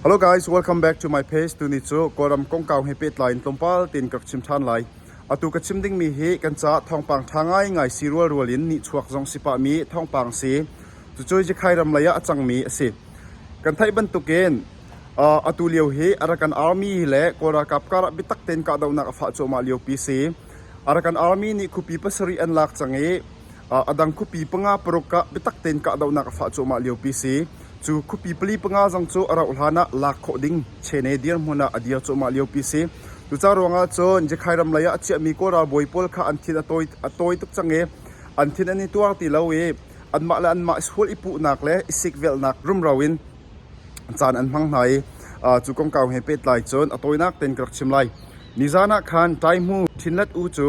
Hello guys, welcome back to my page. Tuni cu Kawlram kongkau he pehtlai in tlawmpal tein ka rak chim ṭhan lai. Atu ka chim dingmi hi kan ca thawngpang ṭha ngaingai si rualrual in nihchuak zong si pahmi thawngpang si. Cucu Jikhai ram lei ah a cangmi a si. Kan theih bantukin uh, atu lio hi Arakan Army le Kawl ralkap karah bitak tein kahdohnak a fah cuahmah liopi si. Arakan Army nih khupi pasarih an lak cang i A dang khuapi panga paruk ah biatak tein kahdohnak a fah cuahmah liopi si cu. Khuapi pali panga zong cu a rauh hlan ah lak khawh ding Chene dirhmun ah a dir cuahmah liopi si. Cuca ruangah cun Jakhai ram lei ah a chiahmi Kawl ralbawi pawl kha an thin a tawi, a tawi tuk cang i an thin an i tuar ti lo i anmah le anmah i sual i puhnak le i sikvelhnak rumro in caan an hmang hna i cu kongkau he pehtlai cun a tawinak tein ka rak chim lai. Nizan ah khan Taihmu Htinlet U cu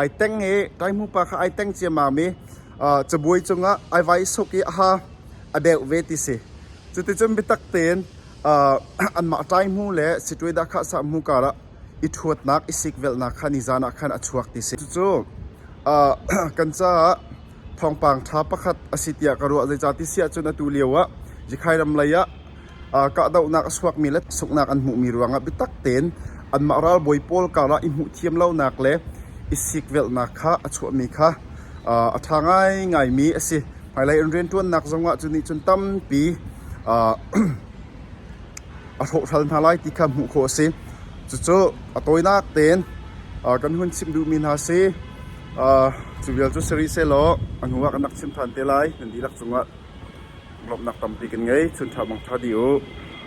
Ai teng i kai hmupa kha ai teng ciammam i cabuai cungah ai vai suk i a ha a deuh ve ti si. Cuticun biatak tein anmah ṭaihmu le situai dahkhah sahmu karah i ṭhuatnak i sikvelhnak kha nizan ah khan a chuak ti si. Cucu kan caah thawngpang ṭha pakhat a si tiah ka ruah. Zeicah ti si ahcun atu lioah Zikhai ram lei ah kahdohnak a suakmi le sunghnak an hmuhmi ruangah biatak tein anmah ralbawi pawl karah i hmuhthiam lonak le i sikvelhnak kha a chuahmi kha a ṭha ngaingaimi a si. Hmailei an rianṭuannak zongah cu nih cun tampi a hrawhhral hna lai ti kha hmuh khawh a si. Cucu a tawinak tein kan hun chimh duhmi hna si, Cu vialte cu si rih sehlaw a hnu ah kan rak chim ṭhan te lai, nan dihlak cungah lawmhnak tampi kan ngei. Chunṭha bang ṭha dih u.